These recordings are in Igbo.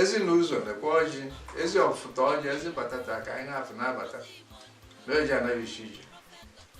ezi na ụzọ lekwa ọjị ezi ọfụ taa ọjị ezi mbata taa ka anyị na-afụ na-abata na-eji anaghịchi ije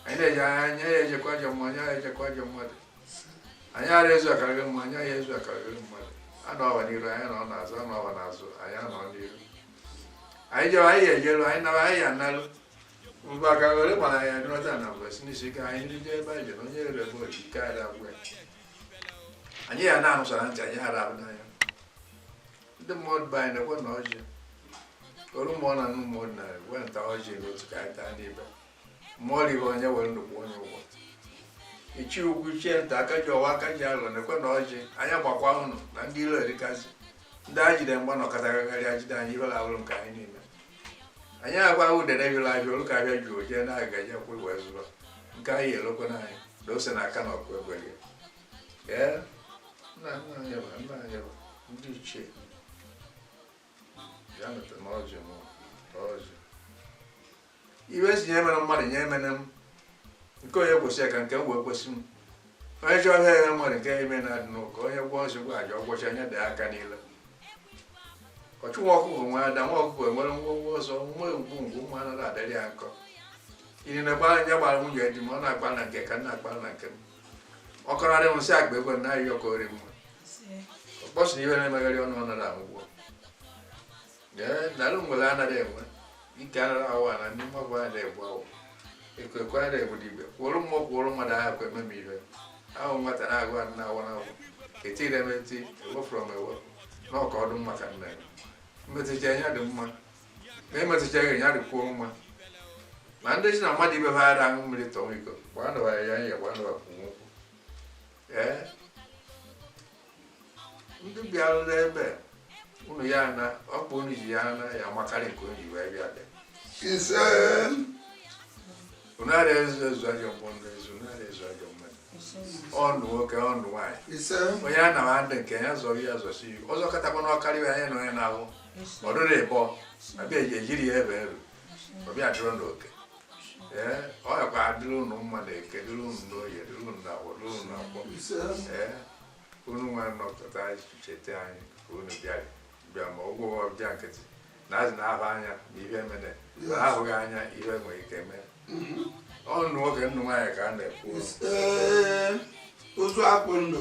anyị na-eji anya anyị ara ejekwu ajọ mmụọ anyị ara ejekwu ajọ mmadụ anyị ara ezu akarịrị mma anyị ara ezu akarịrị mmadụ a nọwa n'iru anyị anọ n'azụ a nọwa n'azụ anyị anọ n'iru anyị jewe anyị ejeru anyị nawa anyị anaru mgbe aka were gbara anyị adịrọta na mgbe si n'isi ike anyị ndị ebe anyị jere onye rere bụ ike anyị agwa ya anyị ya na-anụ sọ na ntị anyị ara ahụ n'anya ndị mmadụ be anyị nekwenụ ọjị olu mmụọ na nnụ mmụọ na wee taa ọjị n'otu ka anyị taa n'ibe mmụọ ribe onye were nnukwu onye ụgwọ ichie ukwu ichie nta aka ji ọwọ aka ji alọ nekwenụ ọjị anyị agbakwuo unu na ndị ilo erikazi ndị anyị jide mgba na ọkatagagharị ajide anyị ibe lawụrụ nke anyị niile anyị agwa udene yụrụ ahịa olu ka ahịa jụrụ jee na-aga je kwụ wee zụba nke anyị lekwenụ anyị na ose na aka na ọkụ egwere ya ee nna nna anyị bụ nna anyị bụ ndị ichie ya me taanụ ọjị m ọjị iwe si nye emene mmadụ nye emene m nke onye kwesị ya ka nke m wee kwesị m onye chọọ ihe ya nwere nke ime na adị n'ụka onye gwọọ nsogbu aja ọ gwọchie anya dị aka niile ọchụ nwa ọkụkọ nwe ada nwa ọkụkọ enwere nwọnwọ ọsọ nwa egwu ngwu ụmụ anaghị adịrị ya nkọ iri na gbara anya gbara nwunye di m ọ na-akpa na nke ka m na-akpa na nke m ọ kọrarị m nsị akpa ego na ahịa ọkọ ori mma ọ kpọsịrị ihe na-emegharị ọnụ ọ nara anwụgwọ daalụ ngwere anaghị enwe ike anara ahụ ana ndị mmadụ a na-egbu awụ ekwe ekwe a na-egbu dibịa kwụrụ mmụọ kwụrụ mmadụ ahụ ekwe meme ihe ahụ nwata na-agụ adị na-awụ n'awụ etiri m eti ewefụrụ m ewepụ na ọka ọdụ maka nna ya emetụcha ya dị mma ma emetụcha ya ya dịkwuo mma ma ndị sị na mmadụ ibe ha ara aṅụ mmiri tọwa iko gbaa ndụwa ya ya gbaa ndụwa kwụ nwokwụ ee ndị bịara n'ebe unu ya ana ọkpa unu ji ya ana ya amakarị nke unu ji wee bịa bịa ise unu ara ezu ezu ajọ mmụọ ndị ezu unu ara ezu ajọ mmadụ ọnụ nwoke ọnụ nwaanyị ise onye a na adị nke ya zọrọ ya zọsi iwu ọzọ katakwa n'ọkarịwa anya na onye na-ahụ ọdụrụ ịbọ abịa eji ejiri ya ebe eru ọbịa dụrụ n'oke ee ọ yakwa adịrị unu mma na eke dịrị unu n'oye dịrị unu na awọ dịrị unu na nkwọ ee unu nwa nọpụta anyị cheta anyị ka unu bịa bịa ma ụgwọ ọbịa nkịtị na azị na-ahụ anya na ihe mene na ahụghị anya ihe nwere ike mee ọnụ nwoke ọnụ nwaanyị ka a na-ekwu ozu akpụ ndụ